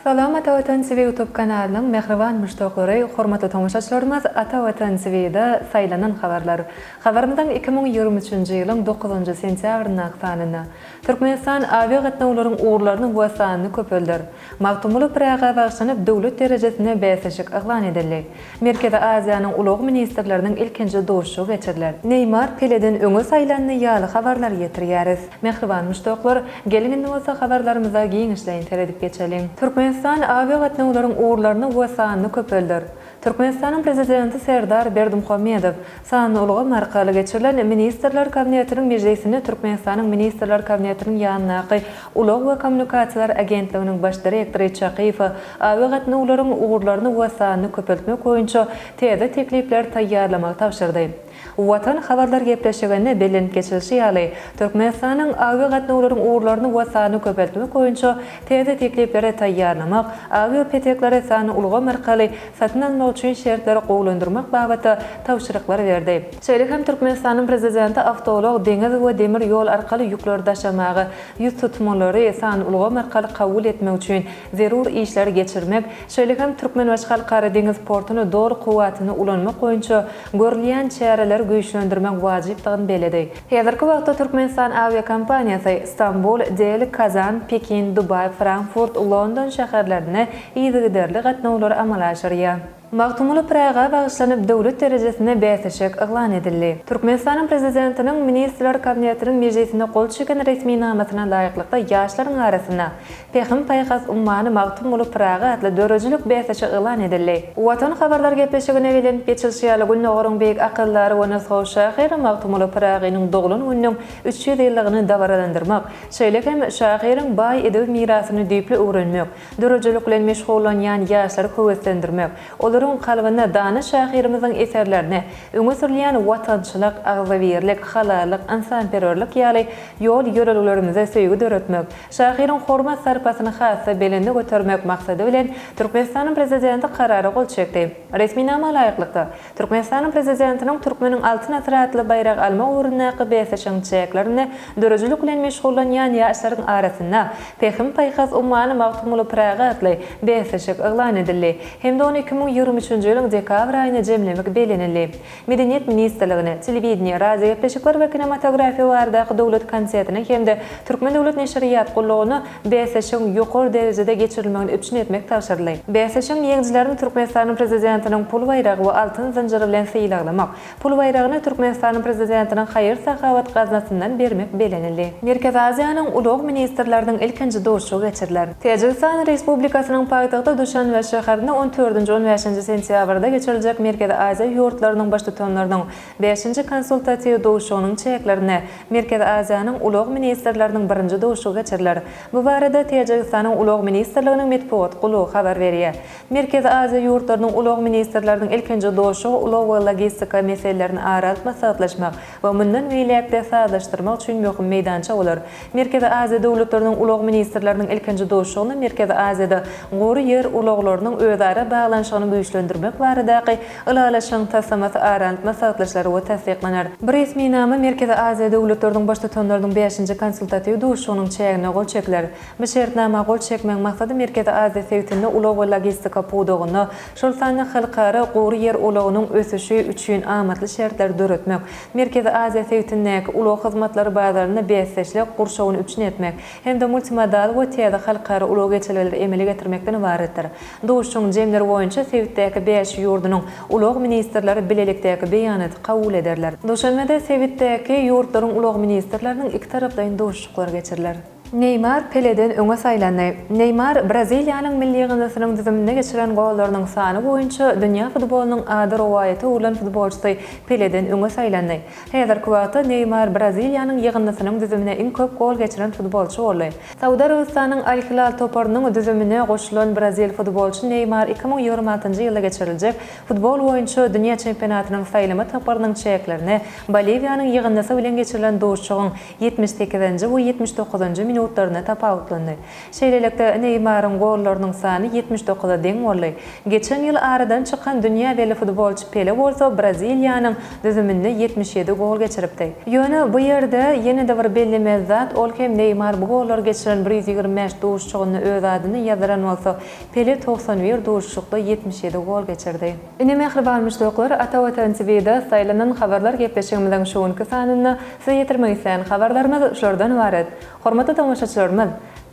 Salam Ata Watan TV Youtube kanalynyň mähriban muşdaklary, hormatly tomaşaçylarymyz Ata Watan TVda saýlanan habarlar. Habarymyzyň iki müň ýigrimi üçünji ýylyň dokuzynjy sentýabryndaky sanynda, Türkmenistan awiagatnawlaryň ugurlaryny we sanyny köpelder. Magtymguly Pyraga bagyşlanyp döwlet derejesinde bäsleşik yglan edildi. Merkezi Aziýanyň ulag ministrleriniň ilkinji duşuşygy geçiriler. Neýmar Peleden öňe saýlandy ýaly habarlary ýetirýäris. Mähriban muşdaklar, geliň indi bolsa habarlarymyza giňişleýin seredip geçeliň. Türkmenistan awiagatnawlaryň ugurlaryny we sanyny köpelder. Türkmenistanyň Prezidenti Serdar Berdimuhamedow sanly ulgam arkaly geçirilen Ministrler Kabinetiniň mejlisinde Türkmenistanyň Ministrler Kabinetiniň ýanyndaky Ulag we kommunikasiýalar agentliginiň Baş direktory Çakyýewe awi gatnawlaryň ugurlaryny we sanyny köpeltmek boýunça täze teklipleri taýýarlamagy tabşyrdy. Watan habarlar gepleşiginde bellenip geçilişi ýaly, Türkmenistanyň awiagatnawlaryň ugurlaryny we sanyny köpeltmek boýunça täze teklipleri taýýarlamak, awiapeteklary sanly ulgam arkaly satyn almak üçin şertleri gowulandyrmak babatda tabşyryklar berdi. Şeýle hem Türkmenistanyň Prezidenti awtoulag, deňiz we demir ýol arkaly ýükleri daşamaga ýüztutmalary sanly ulgam arkaly kabul etmek üçin zerur işleri geçirmek, şeýle hem Türkmenbaşy Halkara deňiz portuny doly kuwwatynda ulanmak boýunça Görülýän çäreleri güýçlendirmek wajypdygyny belledi. Häzirki wagtda Türkmenistan awiakompaniýasy Stambul, Deli, Kazan, Pekin, Dubaý, Frankfurt, London şäherlerine yzygiderli gatnawlary amala aşyrýar. Magtymguly Pyraga bagyşlanyp döwlet derejesinde bäsleşik yglan edildi. Türkmenistanyň Prezidentiniň Ministrler Kabinetiniň mejlisinde gol çeken resminamasyna laýyklykda ýaşlaryň arasynda Pähim-paýhas ummany Magtymguly Pyragy atly döredijilik bäsleşigi yglan edildi. Watan habarlar gepleşigine belent geçilişi ýaly Gündogaryň beýik akyldary we nusgawy şahyry Magtymguly Pyragynyň doglan gününiň üç ýüz ýyllygyny dabaralandyrmak, şeýle hem şahyryň baý edebi mirasyny düýpli öwrenmek, döredijilik bilen meşgullanýan ýaşlary höweslendirmek, olaryň kalbynda dana şahyrymyzyň eserlerinde öňe sürülýän watançylyk, agzybirlik, halallyk, ynsanperwerlik ýaly ýol-ýörelgelerimize söýgi döretmek, Şahyryň hormat-sarpasyny has-da belende götermek maksady bilen, Türkmenistanyň Prezidenti Karara gol çekdi. Resminama laýyklykda, Türkmenistanyň Prezidentiniň Türkmeniň Altyn asyry atly baýragy almak ugrundaky bäsleşigiň çäklerinde döredijilik bilen meşgullanýan ýaşlaryň arasynda Pähim-paýhas ummany Magtymguly Pyragy atly bäsleşik yglan edildi hem-de ony iki müň ýigrimi üçünji ýylyň dekabr aýyna jemlemek bellenildi. Medeniýet ministrligine, Telewideniýe, radiogepleşikler we kinematografiýa baradaky döwlet komitetine hem-de Türkmen döwlet neşirýat gullugyna bäsleşigiň ýokary derejede geçirilmegini üpjün etmek tabşyryldy. Bäsleşigiň ýeňijilerini Türkmenistanyň Prezidentiniň pul baýragy we altyn zynjyry bilen sylaglamak, pul baýragyny Türkmenistanyň Prezidentiniň haýyr-sahawat gaznasyndan bermek belenildi. Merkezi Aziýanyň ulag ministrleriniň ilkinji duşuşygy geçiriler. Täjigistan Respublikasynyň paýtagty Duşanbe şäherinde on dördünji-on bäşinji sentýabrda geçiriljek Merkezi Aziýa ýurtlarynyň Baştutanlarynyň bäşinji konsultatiw duşuşygynyň çäklerinde Merkezi Aziýanyň ulag ministrleriniň birinji duşuşygy geçiriler. Bu barada Täjigistanyň Ulag ministrliginiň metbugat gullugy habar berýär. Merkezi Aziýa ýurtlarynyň ulag ministrleriniň ilkinji duşuşygy ulag we logistika meselelerini ara alyp maslahatlaşmak we mundan beýläk-de sazlaşdyrmak üçin möhüm meýdança bolar. Merkezi Aziýa döwletleriniň ulag ministrleriniň ilkinji duşuşygyna Merkezi Aziýada gury ýer ulaglarynyň özara baglanyşygyny güýçlendirmek baradaky Ylalaşygyň taslamasy aralyk maslahatlaşylar we tassyklanar. Bu resminama Merkezi Aziýa döwletleriniň Baştutanlarynyň bäşinji konsultatiw duşuşygynyň çäginde gol çekiler. Bu şertnama gol çekmegiň maksady Merkezi Aziýa sebitinde ulag we logistika pudagynda, şol sanda halkara gury ýer ulagynyň ösüşi üçin amatly şertleri döretmek, Merkezi Aziýa sebitindäki ulag hyzmatlary bazarynda bäsdeşlik gurşawyny üpjün etmek hem-de multimodal we täze halkara ulag geçelgeleri emele getirmekden ybaratdyr. Duşuşygyň jemleri boýunça sebitdäki bäş ýurdunyň ulag ministrleri bilelikdäki beýanaty kabul ederler. Duşenbede sebitdäki ýurtlaryň ulag ministrleriniň ikitaraplaýyn duşuşyklary geçiriler. Neýmar Peleden öňe saýlandy. Neýmar Braziliýanyň milli ýygyndysynyň düzüminde geçiren gollarynyň sany boýunça dünýä futbolynyň ady rowaýata öwrülen futbolçysy Peleden öňe saýlandy. Häzirki wagtda Neýmar Braziliýanyň ýygyndysynyň düzümine iň köp gol geçiren futbolçy boldy. Saud Arabystanyň Al-Hilal toparynyň düzümine goşulan brazil futbolçy Neýmar iki müň ýigrimi altynjy ýylda geçiriljek futbol boýunça dünýä çempionatynyň saýlama tapgyrynyň çäklerine Boliwiýanyň ýygyndysy bilen geçirilen duşuşygyň Ýetmiş sekizinji we ýetmiş dokuzynjy minutlarynda tapawutlandy. Şeýlelikde, Neýmaryň gollarynyň sany ýetmiş dokuza deň boldy. Geçen ýyl aradan çykan dünýä belli futbolçy Pele bolsa Braziliýanyň düzüminde ýetmiş ýedi gol geçiripdi. Ýöne bu ýerde ýene-de bir bellemeli zat, ol hem Neýmar bu gollary geçiren bir ýüz ýigrimi bäş duşuşygynda öz adyny ýazdyran bolsa, Pele togsan bir duşuşykda ýetmiş ýedi gol geçirdi. Ine mähriban muşdaklar, Ata Watan TV-de saýlanan habarlar gepleşigimiziň şu günki sanynda size ýetirmek isleýän habarlarymyz şulardan ybarat. Hormatly tomaşaçylarymyz!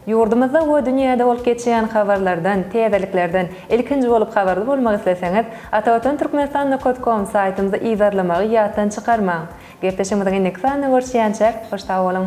Ýurdumyzda we dünýäde bolup geçýän habarlardan, täzeliklerden ilkinji bolup habarly bolmak isleseňiz, atavatanturkmenistan nokat kom saýtymyzy yzarlamagy ýatdan çykarmaň! Gepleşigimiziň indiki sanynda görüşýänçäk, hoş sag boluň!